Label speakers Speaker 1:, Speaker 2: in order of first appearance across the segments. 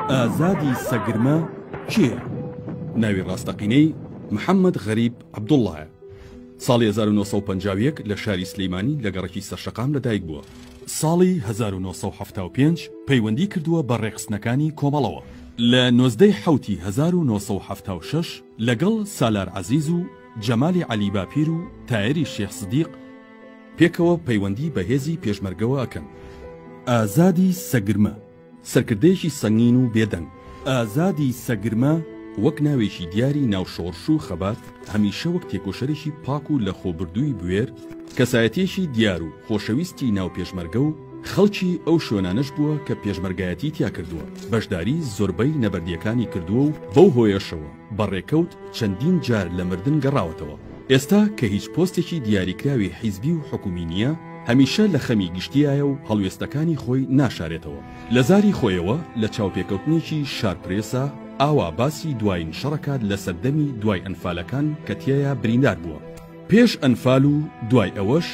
Speaker 1: ئازادی سەگرمە کێ؟ ناوی ڕاستەقینەی محەممەد غەریب عبدوڵایە ساڵی 1950 لە شاری سلیمانی لە گەڕکی سەرشەقام لەدایک بووە ساڵی 1975 پەیوەندی کردووە بە ڕێکخستنەکانی کۆمەڵەوە لە نۆزدەی حوتی 1970 لەگەڵ سالار عزیز و جەمالی عەلی باپیر و تایەری شێخ سدیق پێکەوە پەیوەندی بە هێزی پێشمەرگەوە ئەکەن. ئازادی سەگرمە سەرکردەیەکی سەنگین و بێدەنگ. ئازادی سەگرمە وەک ناوێکی دیاری ناو شۆڕش و خەبات هەمیشە وەک تێکۆشەرێکی پاک و لەخۆبردووی بوێر، کەسایەتیەکی دیار و خۆشەویستی ناو پێشمەرگە و خەڵکی ئەو شوێنانەش بووە کە پێشمەرگایەتی تیا کردووە، بەشداری زۆربەی نەبەردیەکانی کردووە و بەو هۆیەشەوە، بە ڕێکەوت چەندین جار لە مردن گەڕاوەتەوە. ئێستا کە هیچ پۆستێکی دیاریکراوی حیزبی و حکومی نییە، هەمیشە لە خەمی گشتییایە و هەڵوێستەکانی خۆی ناشارێتەوە. لە زاری خۆیەوە لە چاوپێکەوتنێکی شارپرێسا ئاوا باسی دوایین شەڕەکات لە سەردەمی دوای ئەنفالەکان کە تیایا بریندار بووە. پێش ئەنفال و دوای ئەوەش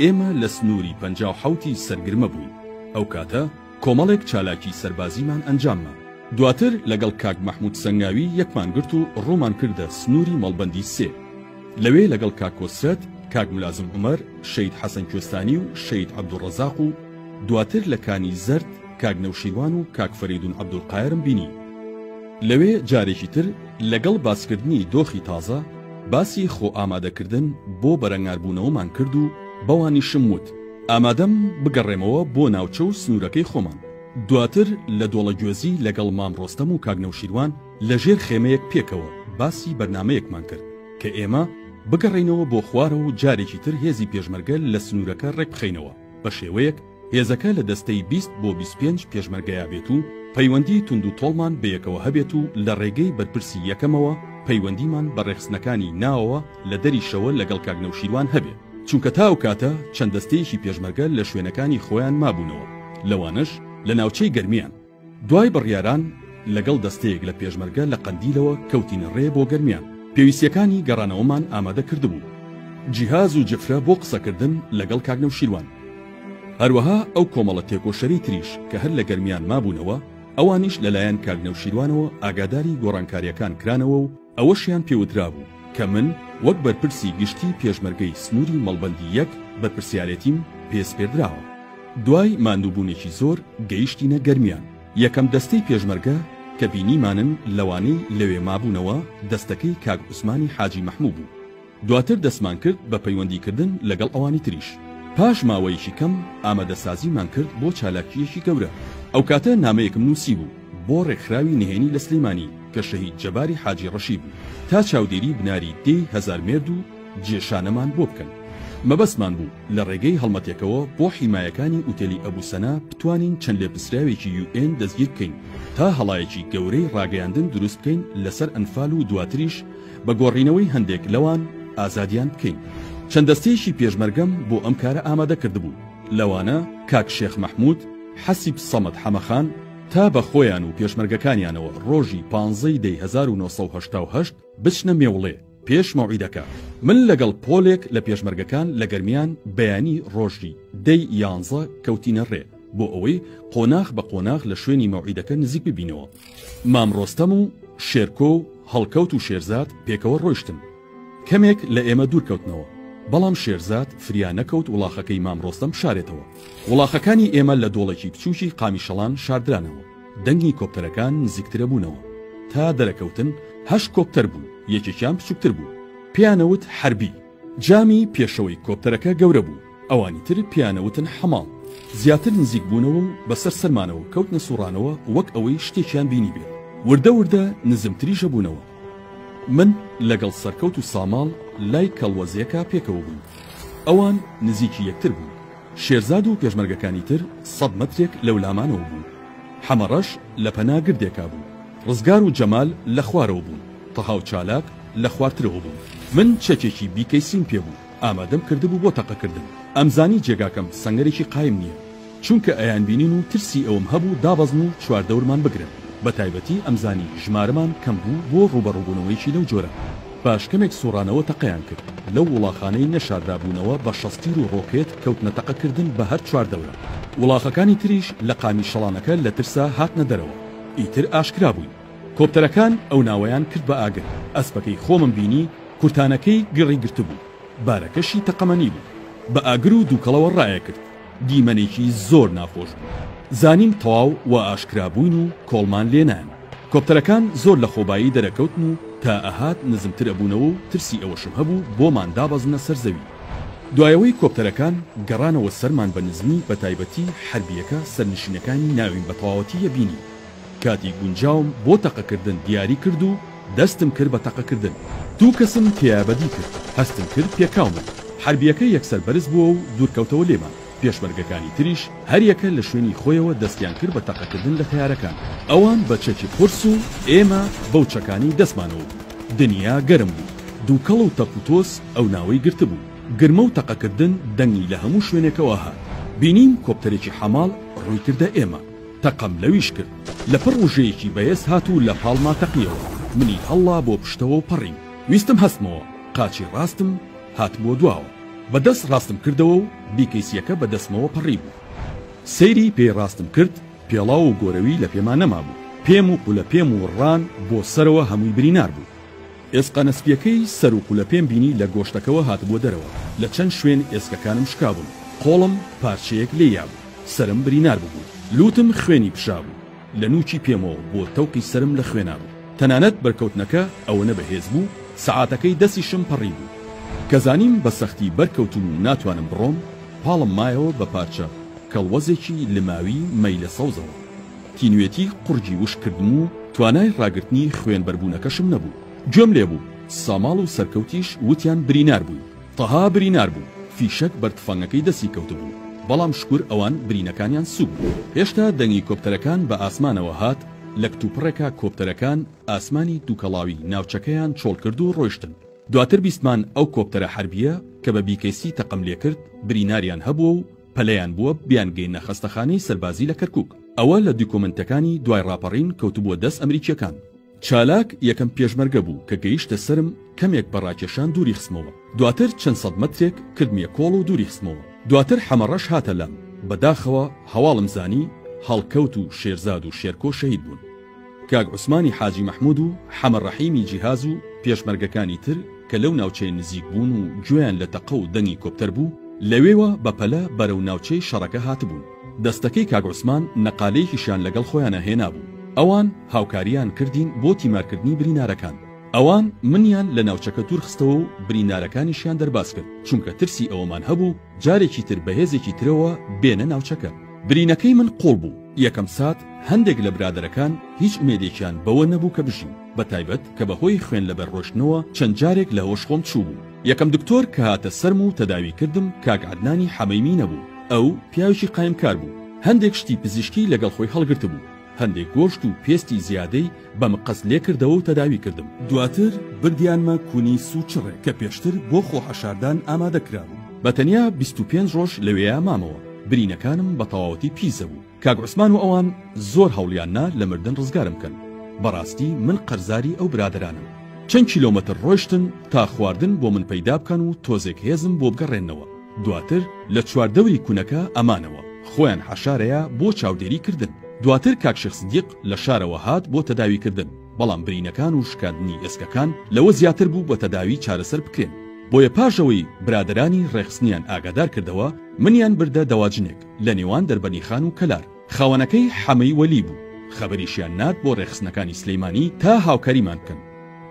Speaker 1: ئێمە لە سنووری پەنجا و حەوتی سەرگرمە بووین. ئەو کاتە. کۆمەڵێک چالاکی سەربازیمان ئەنجامما. دواتر لەگەڵ کاک مەحمود سەنگاوی یەکمان گرت و ڕوومان کردە سنووری مەڵبەندی سێ. لەوێ لەگەڵ کاک کۆسرەت، کاک ملازم عومەر، شەید حەسەن کوێستانی و شەید عەبدولڕەزاق و دواتر لە کانی زەرد کاک نەوشیروان و کاک فەرەیدون عەبدولقایرم بینی. لەوێ جارێکی تر لەگەڵ باسکردنی دۆخی تازە، باسی خۆئامادەکردن بۆ بەرەنگاربوونەوەمان کرد و بەوانیشم وت، ئامادەم بگەڕێمەوە بۆ ناوچە و سنوورەکەی خۆمان. دواتر لە دۆڵەگوێزی لەگەڵ مام ڕۆستەم و کاک نەوشیروان لە ژێر خێمەیەک پێکەوە باسی بەرنامەیەکمان کرد کە ئێمە بگەڕێینەوە بۆ خوارەوە و جارێکی تر هێزی پێشمەرگە لە سنوورەکە ڕێکبخەینەوە بە شێوەیەک هێزەکە لە دەستەی بیست بۆ بیست و پێنج پێشمەرگەیا بێت و پەیوەندی توندوتۆڵمان بەیەکەوە هەبێت و لە ڕێگەی بەرپرسی یەکەمەوە پەیوەندیمان بە ڕێخستنەکانی ناوەوە لە دەری شەوە لەگەڵ کاک نەوشیروان هەبێ. چونکە تا ئەو کاتە چەند دەستەیەکی پێشمەرگە لە شوێنەکانی خۆیان مابوونەوە، لەوانەش لە ناوچەی گەرمیان. دوای بڕیاران لەگەڵ دەستەیەک لە پێشمەرگە لە قەندیلەوە کەوتینە ڕێ بۆ گەرمیان، پێویستییەکانی گەڕانەوەمان ئامادە کردبوو. جیهاز و جفرە بۆ قسەکردن لەگەڵ کاک نەوشیروان. هەروەها ئەو کۆمەڵە تێکۆشەری تریش کە هەر لە گەرمیان مابوونەوە، ئەوانیش لەلایەن کاک نەوشیروانەوە ئاگاداری گۆڕانکارییەکان کرانەوە و، ئەوەشیان پێوترابوو کە من وەک بەرپرسی گشتی پێشمەرگەی سنووری مەڵبەندی یەک بەرپرسیارێتیم پێ سپێردراوە. دوای ماندووبوونێکی زۆر گەیشتینە گەرمیان. یەکەم دەستەی پێشمەرگە کە بینیمانن لەوانەی لەوێ مابوونەوە دەستەکەی کاک عوسمانی حاجی مەحموو بوو. دواتر دەستمان کرد بە پەیوەندیکردن لەگەڵ ئەوانی تریش. پاش ماوەیەکی کەم ئامادەسازیمان کرد بۆ چالاکییەکی گەورە. ئەو کاتە نامەیەکم نووسیبوو بۆ ڕێکخراوی نهێنی لە سلێمانی کە شەهید جەباری حاجی ڕەشی بوو تا چاودێری بناری دێی هەزار مێرد و جێشانەمان بۆ بکەن. مەبەستمان بوو لە ڕێگەی هەڵمەتێکەوە بۆ حیمایەکانی ئوتێلی ئەبو سەنا بتوانین چەند لێپرسراوێکی یو ئێن دەستگیر بکەین تا هەڵایەکی گەورەی ڕاگەیاندن دروست بکەین لەسەر ئەنفال و دواتریش بە گۆڕینەوەی هەندێک لەوان ئازادیان بکەین. چەند دەستەیەکی پێشمەرگەم بۆ ئەم کارە ئامادە کردبوو، لەوانە کاک شێخ مەحموود، حەسیب سەمەد حەمەخان، تا بە خۆیان و پێشمەرگەکانیانەوە ڕۆژی پانزە ی دەی هەزار و نۆ سەد و هەشتا و هەشت بچنە مێوڵێ پێش مەوعیدەکە. من لەگەڵ پۆلێک لە پێشمەرگەکان لە گەرمیان بەیانی ڕۆژی دەی یانزە کەوتینە ڕێ بۆ ئەوەی قۆناخ بە قۆناخ لە شوێنی مەوعیدەکە نزیک ببینەوە. مام ڕۆستەم و شێرکۆ و هەڵکەوت و شێرزاد پێکەوە ڕۆیشتن. کەمێک لە ئێمە دوور کەوتنەوە، بەڵام شێرزاد فریا نەکەوت وڵاخەکەی مام ڕۆستەم بشارێتەوە. وڵاخەکانی ئێمە لە دۆڵێکی بچووکی قامیشەڵان شاردرانەوە. دەنگی کۆپتەرەکان نزیکترە بوونەوە. تا دەرەکەوتن هەشت کۆپتەر بوو، یەکێکیان بچووکتر بوو. پێیانەوت حەربی. جامی پێشەوەی کۆپتەرەکە گەورە بوو، ئەوانی تر پێیان ئەوتن حەماڵ، زیاتر نزیک بوونەوە و بەسەر سەرمانەوە کەوتنە سوڕانەوە وەک ئەوەی شتێکیان بینیبێت، وردە وردە نزمتریش ئەبوونەوە، من لەگەڵ سەرکەوت و ساماڵ لای کەڵوەزێکا پێکەوە بووین، ئەوان نزیکی یەکتر بوون، شێرزاد و پێشمەرگەکانی تر سەد مەترێک لەولامانەوە بوون، حەمەڕەش لە پەنا گردێکا بوو، ڕزگار و جەمال لە خوارەوە بوون، تەها و چالاک لە خوارترەوە بوون. من چەکێکی بیکەیسیم پێ بوو، ئامادەم کردبوو بۆ تەقەکردن. ئەمزانی جێگاکەم سەنگەرێکی قایم نییە، چونکە ئەیانبینین و ترسی ئەوەم هەبوو دابەزن و چواردەورمان بگرن، بەتایبەتی ئەمزانی ژمارەمان کەم بوو بۆ ڕووبەڕووبوونەوەیەکی لەو جۆرە. پاش کەمێک سوڕانەوە تەقەیان کرد. لەو وڵاخانەی نەشاردابوونەوە بە شەستیر و ڕۆکێت کەوتنە تەقەکردن بە هەر چواردەورە. وڵاخەکانی تریش لە قامی شەڵانەکە لە ترسا هاتنە دەرەوە. ئیتر ئاشکرا بووین. کۆپتەرەکان ئەو ناوەیان کرد بە ئاگر. ئەسپەکەی خۆمم بینی کورتانەکەی گڕی گرتبوو، بارەکەشی تەقەمەنی بوو. بە ئاگر و دووکەڵەوە ڕایەکرد. دیمەنێکی زۆر ناخۆش بوو. زانیم تەواو وا ئاشکرا بووین و کۆڵمان لێ نایەن. کۆپتەرەکان زۆر لە خۆبایی دەرەکەوتن و تا ئەهات نزمتر ئەبوونەوە و ترسی ئەوەشم هەبوو بۆمان دابەزنە سەر زەوی. دوایەوەی کۆپتەرەکان گەڕانەوە سەرمان بە نزمی بە تایبەتی حەربیەکە سەرنشینەکانی ناویم بە تەواوەتی یە بینی کاتی گونجاوم بۆ تەقە کردن دیاری کرد و دەستم کرد بە تەقە کردن دوو کەسم تێیا بەدی کرد هەستم کرد پێکاومن حەربیەکە یەکسەر بەرز بووە و دوور کەوتەوە لێمان. پێشمەرگەکانی تریش هەریەکە لە شوێنی خۆیەوە دەستیان کرد بە تەقەکردن لە تەیارەکان، ئەوان بە چەکی قورس و ئێمە بەو چەکانەی دەستمانەوە بوو. دنیا گەرم بوو، دووکەڵ و تەپ و تۆز ئەو ناوەی گرتبوو. گرمە و تەقەکردن دەنگی لە هەموو شوێنێکەوە هات. بینیم کۆپتەرێکی حەماڵ ڕووی کردە ئێمە. تەقەم لەویش کرد. لەپڕ ڕوژەیەکی بەێز هات و لە پاڵما تەقییەوە. منی هەڵڵا بۆ پشتەوە و پەڕیم. ویستم هەستمەوە، قاچی ڕاستم. هاتبووە دواوە بە دەست ڕاستم کردەوە و بیکەیسیەکە بە دەستمەوە پەڕی بوو سەیری پێی ڕاستم کرد پێڵاو و گۆرەوی لە پێما نەمابوو پێم و قولە پێم و ڕان بۆ سەرەوە هەمووی برینار بوو ئێسقە نەسپیەکەی سەر و قولە پێم بینی لە گۆشتەکەوە هاتبووە دەرەوە لە چەند شوێن ئێسکەکانم شکابوون قۆڵم پارچەیەک لێ یابوو سەرم برینار ببوو لووتم خوێنی پشابوو لە نووکی پێمەوە بۆ تەوقی سەرم لە خوێنا بوو. تەنانەت بەرکەوتنەکە ئەوەنە بەهێز بوو سەعاتەکەی دەستیشم پەڕیبوو. کە زانیم بە سەختی بەرکەوتووم و ناتوانم بڕۆم، پاڵم مایەوە بە پارچە کەڵوەزێکی لماوی مەیلە سەوزەوە. تینوێتی قوڕگی وشک کردم و توانای ڕاگرتنی خوێن بەربوونەکەشم نەبوو. گوێم لێ بوو ساماڵ و سەرکەوتیش وتیان برینار بووی. تەها برینار بوو، فیشەک بەر تفەنگەکەی دەستی کەوتبوو، بەڵام شوکور ئەوان برینەکانیان سووک بوو. هێشتا دەنگی کۆپتەرەکان بە ئاسمانەوە هات، لە کتوپڕێکا کۆپتەرەکان ئاسمانی دووکەڵاوی ناوچەکەیان چۆڵ کرد و ڕۆیشتن. دواتر بیستمان ئەو کۆپتەرە حەربییە کە بە بیکەیسی تەقەم لێ کرد، بریناریان هەبووە و پەلەیان بووە بیانگەیەننە خەستەخانەی سەربازی لە کەرکووک. ئەوە لە دوکۆمێنتەکانی دوای ڕاپەڕین کەوتبووە دەست ئەمریکییەکان. چالاک یەکەم پێشمەرگە بوو کە گەیشتە سەرم، کەمێک بە ڕاکێشان دووری خستمەوە، دواتر چەند سەد مەترێک کردمیە کۆڵ و دووری خستمەوە، دواتر حەمەڕەش هاتە لام، بە داخەوە هەواڵم زانی هەڵکەوت و شێرزاد و شێرکۆ شەهید بوون. کاک عوسمانی حاجی مەحمود و حەمە ڕەحیمی جیهاز و پێشمەرگەکانی تر کە لەو ناوچەیە نزیک بوون و گوێیان لە تەقە و دەنگی کۆپتەر بوو، لەوێوە بە پەلە بەرەو ناوچەی شەڕەکە هاتبوون. دەستەکەی کاک عوسمان نەقالەیەکیشیان لەگەڵ خۆیانا هێنابوو ئەوان هاوکاریان کردین بۆ تیمارکردنی برینارەکان ئەوان منیان لە ناوچەکە دوور خستەوە و برینارەکانیشیان دەرباز کرد چونکە ترسی ئەوەمان هەبوو جارێکی تر بەهێزێکی ترەوە بێنە ناوچەکە. برینەکەی من قوڵ بوو یەکەم سات هەندێک لە برادەرەکان هیچ ئومێدێکیان بەوە نەبوو کە بژین بەتایبەت کە بەهۆی خوێن لەبەر ڕۆشتنەوە چەند جارێک لە هۆش خۆم چووبوو، یەکەم دکتۆر کە هاتە سەرم و تەداوی کردم کاک عەدنانی حەمەیمی نەبوو، ئەو پیاوێکی قایمکار بوو، هەندێک شتی پزیشکی لەگەڵ خۆی هەڵگرتبوو، هەندێک گۆشت و پێستی زیادەی بە مقەست لێکردەوە و تەداوی کردم. دواتر بردیانمە کونی سووچڕێ کە پێشتر بۆ خۆ حەشاردان ئامادە کرابوو، بە تەنیا بیست و پێنج ڕۆژ لەوێیا مامەوە، برینەکانم بە تەواوەتی پیس دەبوو، کاک عوسمان و ئەوان زۆر هەوڵیان نا لە مردن ڕزگارم بکەن بەڕاستی من قەرزاری ئەو برادەرانەم چەند کیلۆمەتر ڕۆشتن تا خواردن بۆ من پەیدا بکەن و تۆزێک هێزم بۆ بگەڕێننەوە دواتر لە چوار دەوری کونەکە ئەمانەوە خۆیان حەشارەیە بۆ چاودێری کردن دواتر کاک شێخ سدیق لە شارەوە هات بۆ تەداوی کردن بەڵام برینەکان و شکاندنی ئێسکەکان لەوە زیاتر بوو بە تەداوی چارەسەر بکرێن بۆیە پاش ئەوەی برادەرانی ڕێخستنیان ئاگادار کردەوە منیان بردە دەواجنێک لە نێوان دەربەنیخان و کەلار. خاوەنەکەی حەمەی وەلی بوو. خەبەریشیان نارد بۆ ڕێکخستنەکانی سلیمانی تا هاوکاریمان بکەن.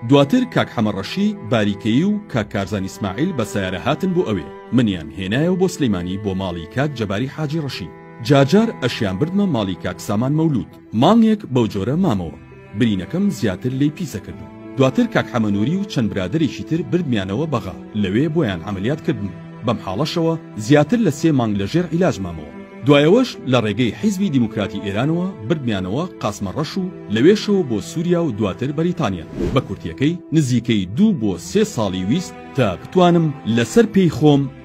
Speaker 1: دواتر کاک حەمە ڕەشی باریکەیی و کاک کارزان ئیسماعیل بە سەیارە هاتن بۆ ئەوێ. منیان هێنایەوە بۆ سلیمانی بۆ ماڵی کاک جەباری حاجی ڕەشی. جارجار ئەشیان بردمە ماڵی کاک سامان مەولوود. مانگێک بەو جۆرە مامەوە برینەکەم زیاتر لێی پیسە کردم دواتر کاک حەمە نوری و چەند برادەرێکی تر بردمیانەوە بەغا لەوێ بۆیان عەمەلیات کردم بەم حاڵەشەوە زیاتر لە سێ مانگ لەژێر عیلاج مامەوە دوایەوەش لە ڕێگەی حیزبی دیموکراتی ئێرانەوە بردمیانەوە قاسمە ڕەش و لەوێشەوە بۆ سوریا و دواتر بەریتانیا بە کورتیەکەی نزیکەی دوو بۆ سێ ساڵی ویست تا بتوانم لەسەر پێی خۆم